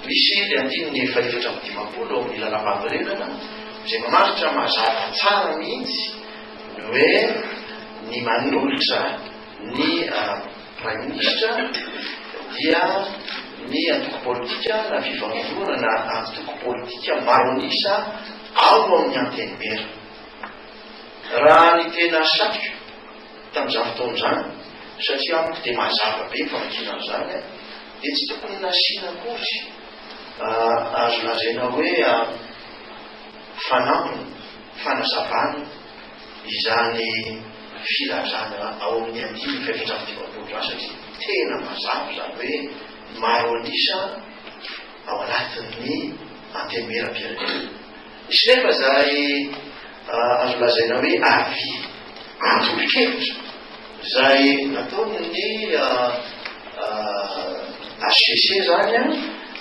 Misy ny andininy efaefatra amby dimampolo ao amin'ny Lalàmpanorenana izay mamaritra mazava tsara mihitsy ny hoe ny manolotra ny Praiminisitra dia ny antoko politika na fifanorohana na antoko politika maro an'isa ao amin'ny Antenimiera. Raha ny tena satriko tamin'izany fotoana izany, satria amiko dia mazava be ny famakiana an'izany, dia tsy tokony nasiana akory azo lazaina hoe fanampiny, fanazavana izany filazana ao amin'ny andininy fahefatramin'ny dimampolo izany, satria tena mazava izany hoe maro an'isa ao anatin'ny Antenimierampirenena. Misy nefa izay azo lazaina hoe avis, antolon-kevitra, izay nataon'ny HCC izany,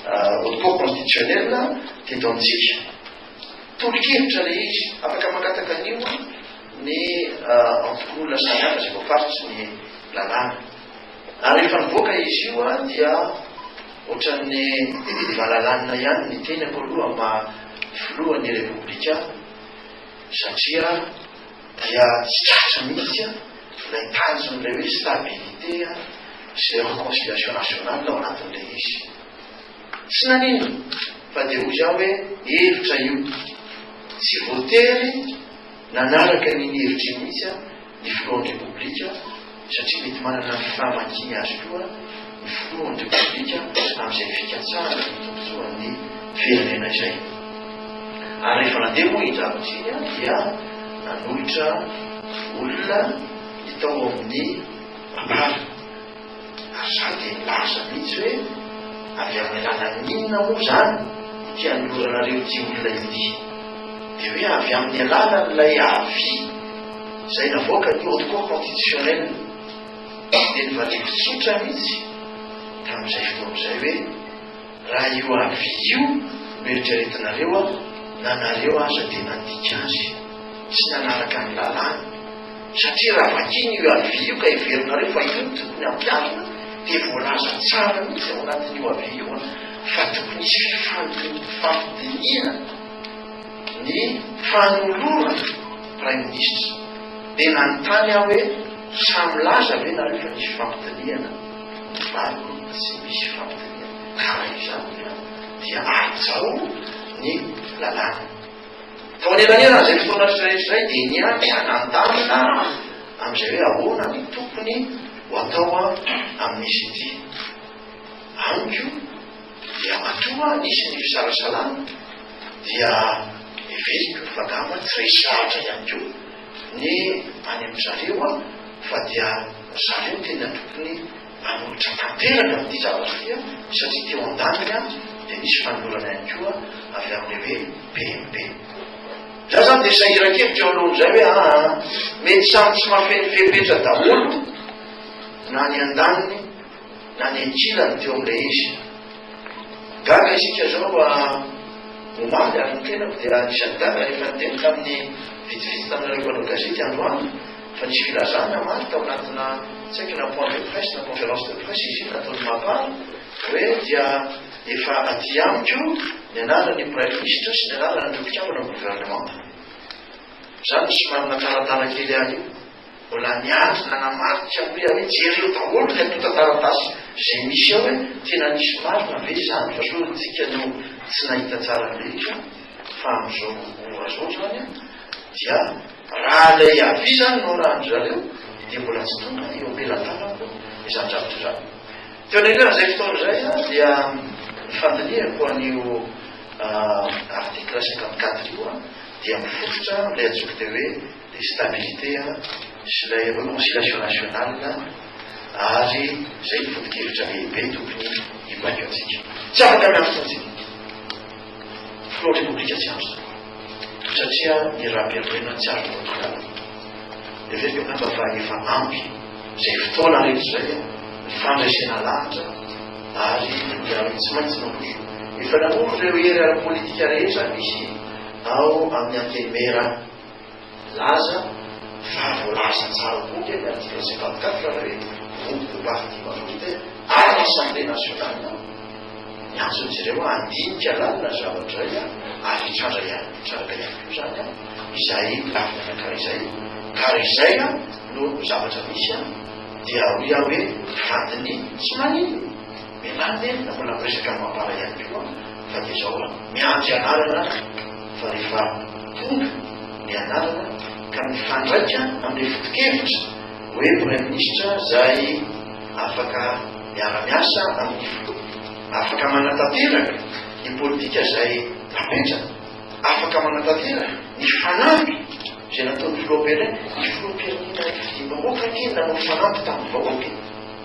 Haute Cour Constitutionnelle, teto amintsika. Tolo-kevitra ilay izy. Afaka mangataka an'io ny antokon'olona samihafa izay voafaritry ny lalàna. Ary rehefa nivoaka izy io an dia ohatran'ny valalanina ihany ny tenako aloha maha filohan'ny repoblika satria dia tsy tratra mihitsy an ilay tanjon'ilay hoe stabilité an sy ilay reconciliation nationale ao anatin'ilay izy. Tsy nanino fa dia hoy aho hoe hevitra io tsy voatery Nanaraka ny hevitry ny mihitsy ny filohan'ny Repoblika satria mety manana ny fahamakiany azy koa ny filohan'ny Repoblika amin'izay fikatsahana ny tombontsoan'ny firenena izay. Ary rehefa nandeha moa i Ndravitsy dia nanolotra olona ny tao amin'ny mpamily. Ary za dia nilaza mihitsy hoe, Avy amin'ny alalan'inona moa izany ity anoloranareo ity olona ity? Dia hoe avy amin'ny alalan'ilay avis izay navoakan'ny Haute Cour Contititionnelle. Dia nivaliako tsotra mihitsy tamin'izay fotoana izay hoe, Raha io avis io no eritreretinareo an, na nareo aza dia nandika azy tsy nanaraka ny lalàna, satria raha vakina io avis io ka heverinareo fa io no tokony hampiharina dia voalaza tsara mihitsy ao anatin'io avis io an, fa tokony hisy fifampidinihana ny fanolorana praiminisitra. Dia nanontany aho hoe, sa milaza ve nareo fa nisy fifampidinihana? Izany tsy misy fampitaniana tara io izany hoy aho dia hajao ny lalàna. Tao anelanelan'izay fotoana rehetra izay dia niatrika nandamina aho amin'izay hoe ahoana no tokony ho atao amin'izy ity. Amiko dia matoa nisy ny fisalasalana dia heveriko fa angamba tsy resy lahatra ihany koa. Ny any amin-dry zareo fa dia ry zareo tena tokony hanolotra tanteraka amin'ity zavatra ity satria teo an-daniny dia nisy fanolorana ihany koa avy amin'ilay hoe BMP. Za izany dia sahiran-kevitra eo alohan'izay hoe aa mety samy tsy mahafeno fepetra daholo na ny an-daniny Nanekirany teo amin'ilay izy. Gaga isika izao omaly ary ny tenako dia anisan'ny gaga rehefa niteny tamin'ny vitsivitsy taminareo mpanao gazety androany fa nisy filazana omaly tao anatina tsy haiko na point de presse na conférence de presse izy io nataon'i Mapar hoe dia efa aty amiko ny anaran'ny praiminisitra sy ny anaran'ireo mpikambana amin'ny governemanta. Izaho no somary natalatala kely ahy io. Mbola niandry nanamarika hoe anie jereo daholo ny antontan-taratasy izay misy ao hoe tena nisy marina ve izany fa sao isika no tsy nahita tsara ny rehetra fa amin'izao ora izao izany an dia raha ilay avis izany no arahan-dry zareo dia mbola tsy tonga eo am-pelatanako izany zavatra izany. Teo anelaran'izay fotoana izay an dia nifandinihako an'io article cinquante quatre io an dia mifototra amin'ilay antsoiko dia hoe ny stabilité sy ilay reconciliation nationale ary izay ny foto-kevitra lehibe tokony hibaikoantsika. Tsy afaka miantso intsony filohan'ny repoblika tsy antso izany satria ny rahampihariana tsy azo kontrolana. Heveriko angamba fa efa ampy izay fotoana rehetra izay ny fandresena lahatra ary ny miarahaba tsy maintsy manondro. Efa nanondro ireo hery ara-politika rehetra misy ao amin'ny Antenimiera. Milaza fa voalaza tsara koa anie ny article cinquante quatre fa hoe groupe parti majoritaire any assemblée nationale ao. Ny antson'izy ireo handinika lalina ny zavatra iray ary hitranga ihany hitranga ihany koa izany an! Izay lafiny anankiray izay ka raha izay no zavatra misy an! dia hoy aho hoe vadin'ny tsy maninona! Mianarana e, na mbola miresaka amin'ny mampara ihany koa fa dia izao an, miandry anarana ary fa rehefa tonga ny anarana ka mifandraika amin'ilay foto-kevitra hoe Praiminisitra izay afaka miara-miasa amin'ny Filoha, afaka manatanteraka ny politika izay napetrany, afaka manatanteraka ny fanamby izay nataon'ny Filoham-pirenena, ny Filoham-pirenena fidiam-bahoaka anie nanao fanamby tamin'ny vahoaka e.